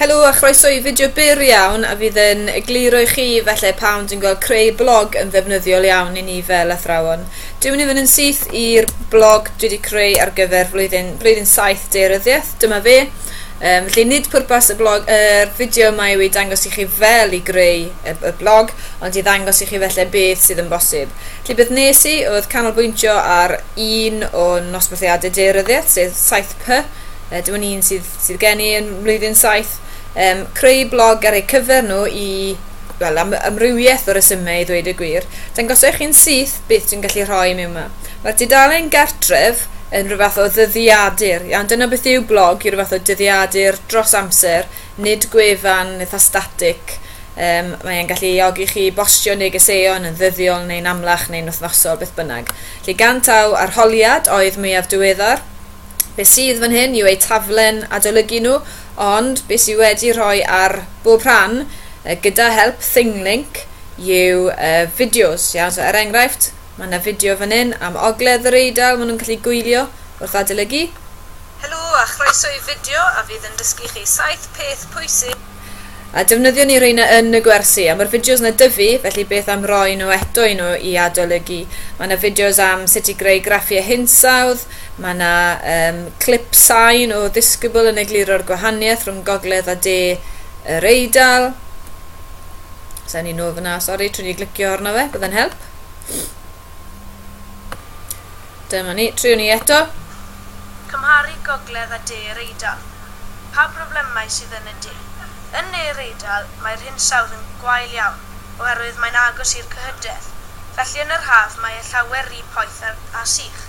Helo a chroeso i fideo byr iawn a fydd yn egluro i chi felly pam dwi'n gweld creu blog yn ddefnyddiol iawn i ni fel athrawon. Dwi'n mynd i fynd yn syth i'r blog dwi wedi creu ar gyfer flwyddyn, blwyddyn 7 deiryddiaeth, dyma fe. Um, felly nid pwrpas y blog, y er fideo yma yw i dangos i chi fel i greu y, y blog, ond i ddangos i chi felly beth sydd yn bosib. Felly beth nes i oedd canolbwyntio ar un o'n nosbarthiadau deiryddiaeth, sef 7P, uh, dyma ni'n sydd, sydd gen i yn mlwyddyn 7, um, creu blog ar eu cyfer nhw i wel, am amrywiaeth o resymau i ddweud y gwir, dangos eich chi'n syth beth dwi'n gallu rhoi mewn yma. Mae'r dudalen gartref yn rhywbeth o ddyddiadur, iawn, dyna beth yw blog i rhywbeth o dyddiadur dros amser, nid gwefan eitha static, Um, mae'n gallu eogi chi bostio negeseuon yn ddyddiol neu'n amlach neu'n wythnosol, beth bynnag. Lle gan taw arholiad oedd mwyaf diweddar, Be sydd fan hyn yw eu taflen adolygu nhw, ond be sydd wedi rhoi ar bob rhan, uh, gyda help Thinglink, yw uh, fideos. Iawn, so er enghraifft, mae yna fideo fan hyn am ogledd yr Eidal, maen nhw'n gallu gwylio wrth adolygu. Helo a chroeso i fideo a fydd yn dysgu chi saith peth pwysig A defnyddio ni reina yn y gwersi. A mae'r fideos na dyfu, felly beth am roi nhw eto i nhw i adolygu. Mae na fideos am sut i greu graffiau hinsawdd, mae na um, clip sain o ddisgybl yn egluro'r gwahaniaeth rhwng gogledd a de yr Eidal. Sa'n ni'n nôl fyna, sori, trwy ni glicio arno fe, byddai'n help. Dyma ni, triwn ni eto. Cymharu gogledd a de yr Eidal. Pa broblemau sydd yn y de? Yn ne yr Eidal, mae'r hinsawdd yn gwael iawn, oherwydd mae'n agos i'r cyhydedd, felly yn yr haf mae e llawer ry poeth a, a sych.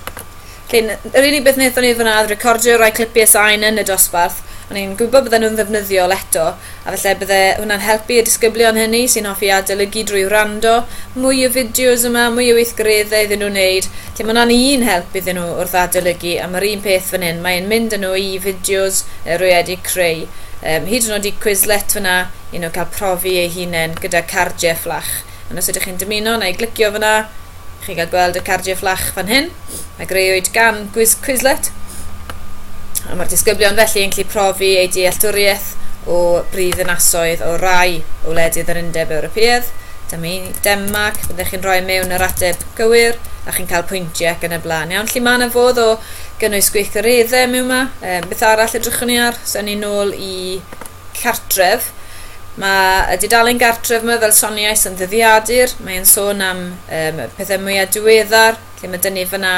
Felly, yr unig beth wnaethon ni fan'na oedd recordio rai clipiau sain yn y dosbarth. O'n i'n gwybod bydden nhw'n ddefnyddiol eto. A falle bydde hwnna'n helpu y disgyblion hynny sy'n hoffi adolygu drwy wrando, mwy o fideos yma, mwy o weithgareddau iddyn nhw wneud, lle mae hwnna'n un help iddyn nhw wrth adolygu, a mae'r un peth fan hyn, mae e'n mynd â nhw i fideos yy rwy wedi creu, yym hyd yn oed i Quizlet fan'na, i nhw cael profi eu hunain gyda cardiau fflach. Ond os ydych chi'n dymuno neu glicio fyna, chi'n cael gweld y cardiau fflach fan hyn, a greuwyd gan Gwiz Quizlet. A mae'r disgyblion felly yn gallu profi eu dealltwriaeth o brifddinasoedd o rai o wledydd yr Undeb Ewropeaidd. Dyma un i Denmark, byddech chi'n rhoi mewn yr ateb gywir a chi'n cael pwyntiau ac yn y blaen. Iawn, lle mae yna fodd o gynnwys gweithgareddau mewn yma. Um, beth arall edrychwn ni ar? So, ni'n nôl i cartref. Mae y dudalen gartref yma, fel soniais, yn ddyddiadur. Mae'n sôn am um, pethau mwyaf diweddar, lle mae dyn ni fyna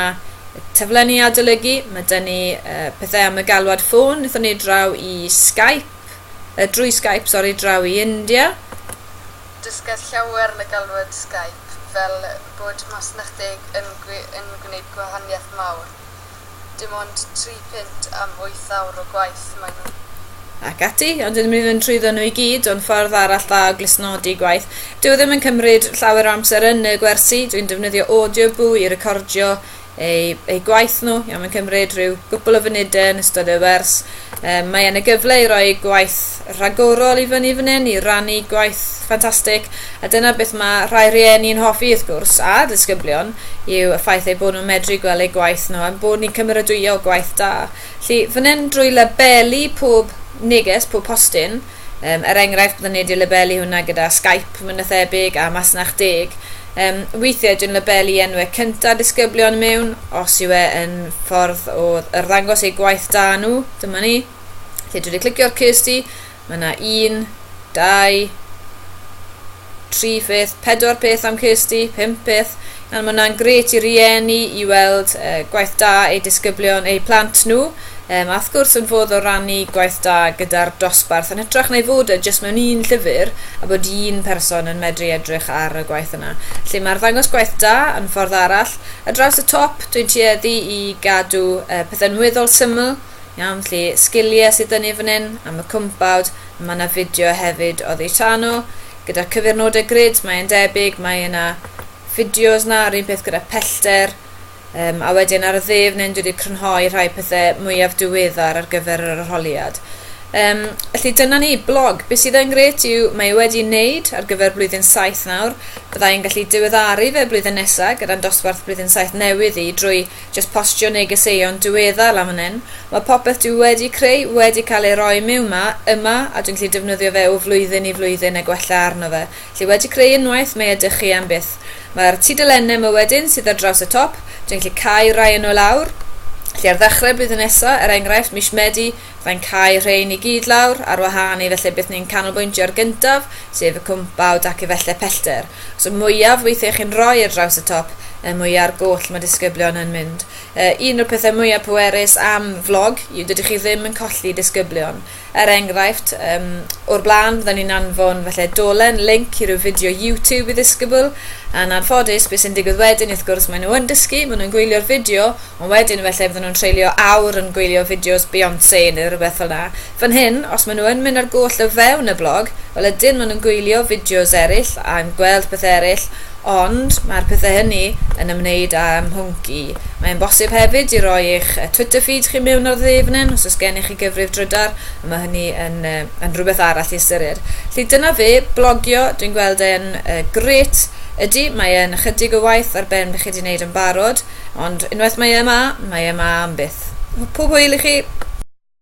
taflenni adolygu, mae dyn ni uh, pethau am y galwad ffôn, wnaethon ni draw i Skype, uh, drwy Skype, sori, draw i India. Dysgais llawer yn y galwad Skype, fel bod masnachdig yn, yn gwneud gwahaniaeth mawr. dim ond tri punt am wyth awr o gwaith maen nhw'n Ac ati, ond dydym ni ddim trwyddo nhw i gyd, ond ffordd arall dda o glustnodi gwaith. Dyw e ddim yn cymryd llawer o amser yn y gwersi, dwi'n defnyddio Audioboo i recordio eu, eu gwaith nhw, iawn mae'n cymryd rhyw gwpl o funudau yn ystod y wers, Um, mae yna gyfle i roi gwaith rhagorol i fyny fan hyn, i rannu gwaith ffantastig, a dyna beth mae rhai rhieni'n hoffi wrth gwrs, a disgyblion, yw y ffaith eu bod nhw'n medru gweld eu gwaith nhw, a'n bod ni'n cymeradwyo gwaith da. Felly, fan hyn drwy labelu pob neges, pob postyn, Um, er enghraifft, byddwn wedi labelu hwnna gyda Skype, mae'n na thebyg, a masnach deg. Um, weithiau, dwi'n labelu enwau cynta disgyblion mewn, os yw e yn ffordd o ddangos eu gwaith da nhw, dyma ni. Felly, dwi wedi clicio'r Kirsty, mae yna un, dau, tri pheth, pedwar peth am Kirsty, pum peth, and mae hwnna'n gret i rieni i weld uh, gwaith da ei disgyblion, eu plant nhw, um, a wrth gwrs yn fodd o rannu gwaith da gyda'r dosbarth yn hytrach na i fod e jyst mewn un llyfr a bod un person yn medru edrych ar y gwaith yna. Lle mae'r ddangos gwaith da yn ffordd arall, a draws y top dwi'n tueddu i gadw uh, pethau'n weddol syml, Iawn, felly sgiliau sydd dynnu fan hyn am y cwmpawd. Mae yna fideo hefyd o ddeitano gyda cyfurnodau grid, mae'n debyg, mae yna fideos na, yr un peth gyda pellter, um, a wedyn ar y dde fan hyn dwi wedi crynhoi rhai pethau mwyaf diweddar ar gyfer yr arholiad. Um, felly dyna ni, blog. Beth sydd yn gret yw mae e wedi wneud ar gyfer blwyddyn 7 nawr. Byddai'n gallu diweddaru fe blwyddyn nesaf gyda'n dosbarth blwyddyn 7 newydd i drwy Jyst postio negeseuon diweddar lan fan hyn. Mae popeth dwi wedi creu wedi cael ei roi miwn ma, yma, a dwi'n gallu defnyddio fe o flwyddyn i flwyddyn a gwella arno fe. Felly wedi creu unwaith, mae ydych chi am byth. Mae'r tudalennau ma wedyn sydd ar draws y top, dwi'n gallu cau rai yno lawr. Felly ar ddechrau'r blwyddyn nesa, er enghraifft, mis Medi, Fe'n cau rhein i gyd lawr ar wahân i felly beth ni'n canolbwyntio ar gyntaf, sef y cwmpawd ac efallai pellter. Os y mwyaf weithiau chi'n rhoi ar draws y top, y mwya ar goll mae disgyblion yn mynd. Yy, un o'r pethau mwyaf pwerus am flog yw dydy chi ddim yn colli disgyblion. Er enghraifft, um, o'r blaen fydda ni'n anfon falle dolen, link i ryw fideo YouTube i ddisgybl, a'n anffodus, beth sy'n digwydd wedyn, wrth gwrs, maen nhw yn dysgu, maen nhw'n gwylio'r fideo, Ond wedyn efallai fydden nhw'n treulio awr yn gwylio fideos Beyonce neu rhywbeth fel 'na. Fan hyn, os maen nhw yn mynd ar goll o fewn y blog, wel ydyn maen nhw'n gwylio fideos eraill a'n gweld pethau eraill, ond mae'r pethau hynny yn ymwneud â'm mhwnc i. Mae'n bosib hefyd i roi eich Twitter feed chi mewn ar dde fan hyn os oes gennych chi gyfrif drydar, a mae hynny yn, yn rhywbeth arall i ystyried. Felly dyna fe, blogio, dwi'n gweld e'n uh, grêt. Ydy, mae e'n ychydig o waith ar ben beth chi wedi wneud yn barod, Ond unwaith mae e 'ma, mae e 'ma am byth. Pob hwyl i chi!